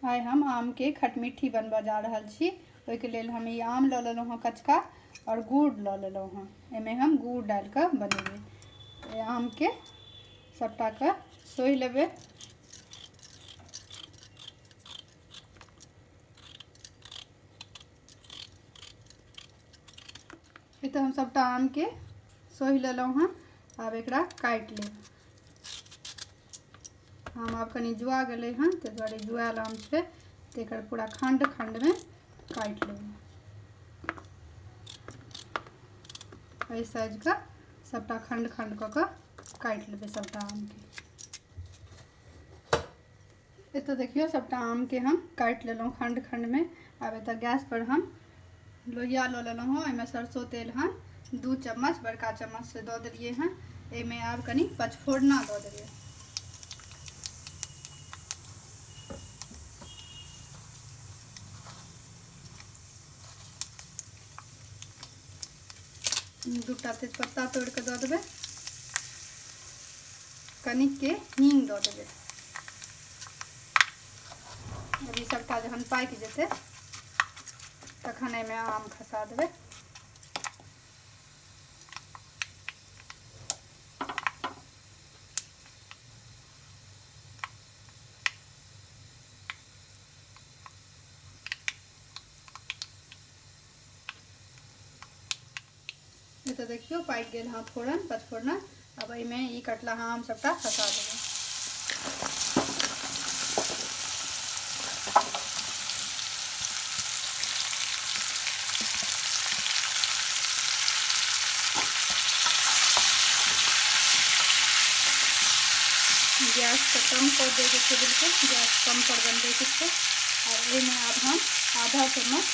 आइ हम आमके खटमिट्ठी बनबऽ जा रहल छी ओहिके लेल हम ई आम लऽ लेलहुँ हँ कचका आओर गुड़ लऽ लेलहुँ हँ एहिमे हम गुड़ डालि कऽ बनेबै आमके सबटा के सोहि लेबे ई तऽ हम सबटा आम के सोहि लेलहुँ हँ आब एकरा काटि लेब आम आब कनि जुआ गेलै हँ ताहि दुआरे जुआल आम छै तऽ एकर पूरा खण्ड खण्डमे काटि लेब एहि साइजके सबटा खण्ड खण्ड कऽ कऽ काटि लेबै सभटा आमके एतऽ देखियौ सभटा आमके हम काटि लेलहुँ खण्ड खण्डमे आब एतऽ गैसपर हम लोहिया लऽ लेलहुँ हँ ओहिमे सरसो तेल हन दू चम्मच बड़का चम्मच से दऽ देलियै हँ एहिमे आब कनि पचफोरना दऽ देबै दूटा तेजपत्ता तोड़ के दऽ देबै कनिक के हींग दऽ देबै अभी सबटा जहन पाकि जेतै तखन एहिमे आम खसा देबै ई तऽ देखियौ पाकि गेल हँ फोरन पचफोरना आब एहिमे ई कटला हँ हम सभटा खसा देबै गैस के कम कर देवे के बिल्कुल गैस कम पर बनबे के छै और एहिमे आब हम आधा चम्मच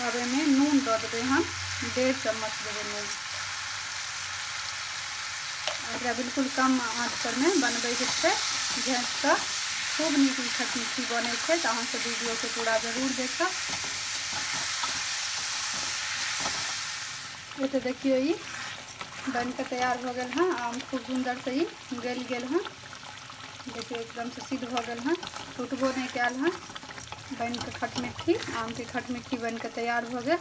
अब एहिमे नून दऽ देबै हम डेढ़ चम्मच देबै नून एकरा बिल्कुल कम आँचपर मे बनबैके छै झाँकिकऽ खूब नीक ई खटमिट्ठी बनै छै तऽ अहाँसब वीडियोके पूरा जरूर देखब एतऽ देखियौ ई बनिकऽ तैयार भऽ गेल हँ आम खूब सुन्दरसँ ई गलि गेल हँ देखियौ एकदमसँ सिद्ध भऽ गेल हँ टूटबो नहि कयल हँ बनि कऽ खटमिट्ठी आमके खटमिट्ठी बनि कऽ तैयार भऽ गेल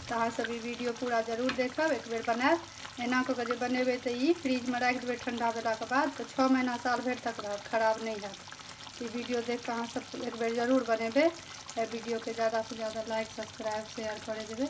तऽ अहाँसभ ई वीडियो पूरा जरूर देखब एक बेर बनायब एना कऽ कऽ जे बनेबै तऽ ई फ्रिजमे राखि देबै ठण्डा भेलाके बाद तऽ छओ महीना साल भरि तक रहत खराब नहि हैत ई वीडियो देख कऽ अहाँसभ एक बेर जरूर बनेबै एहि वीडियोके ज्यादासँ ज्यादा लाइक सब्सक्राइब शेयर करै देबै